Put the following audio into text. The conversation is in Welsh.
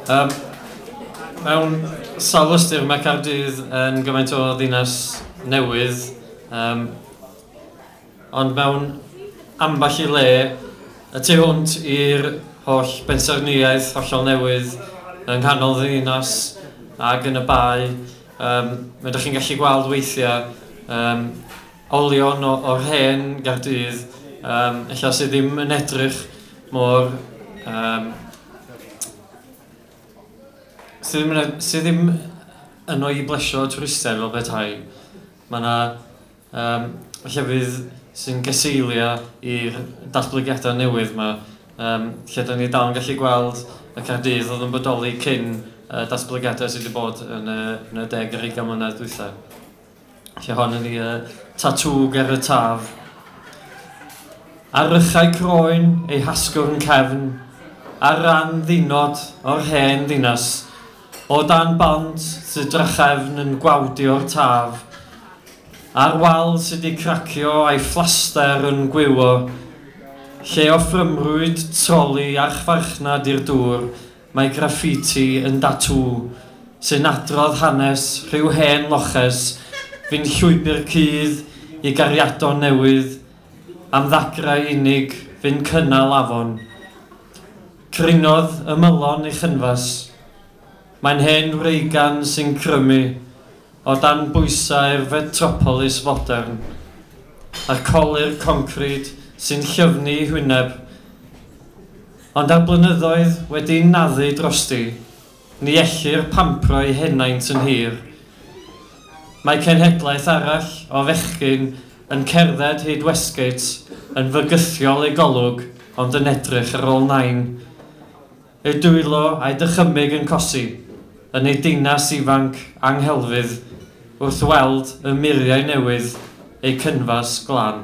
Um, mewn sawl ystyr mae Cardydd yn gymaint o ddinas newydd, um, ond mewn ambell i le, y tu hwnt i'r holl bensaernïaeth hollol newydd yng nghanol ddinas ac yn y bae, um, mae ydych chi'n gallu gweld weithiau um, olion o, o'r hen Gaerdydd, um, ella sydd ddim yn edrych mor... Um, sydd ddim, yn, sydd ddim yn o'i blesio twristau fel petai. Mae yna um, llefydd sy'n geseilio i'r datblygiadau newydd yma, um, lle da ni dal yn gallu gweld y Caerdydd oedd yn bodoli cyn uh, datblygiadau sydd wedi bod yn y, yn y deg ar 20 mlynedd dwythau. Lle hon ydi y tatŵ ger y taf. Ar rychau croen ei hasgwrn cefn, ar ran ddinod o'r hen ddinas, o dan bont sydd drachefn yn gwawdio'r taf, ar wal sydd wedi cracio a'i fflaster yn gwywo, lle o ffrymrwyd troli archfarchnad i'r dŵr Mae graffiti yn datŵ sy'n adrodd hanes rhyw hen loches fu'n llwybr cudd i gariadon newydd am ddagrau unig fu'n cynnal afon. Crinodd ymylon ei chynfas. Mae'n hen wreigan sy'n crymu o dan bwysau'r fetropolis fodern, a'r colur concrid sy'n llyfnu ei hwyneb. Ond ar blynyddoedd wedi'n naddu drosti, ni ellir pampro eu henaint yn hir. Mae cenhedlaeth arall o fechgyn yn cerdded hyd Westgate yn fygythiol eu golwg ond yn edrych ar ôl nain. Eu dwylo a'u dychymyg yn cosi yn eu dinas ifanc anghelfydd wrth weld y muriau newydd eu cynfas glân.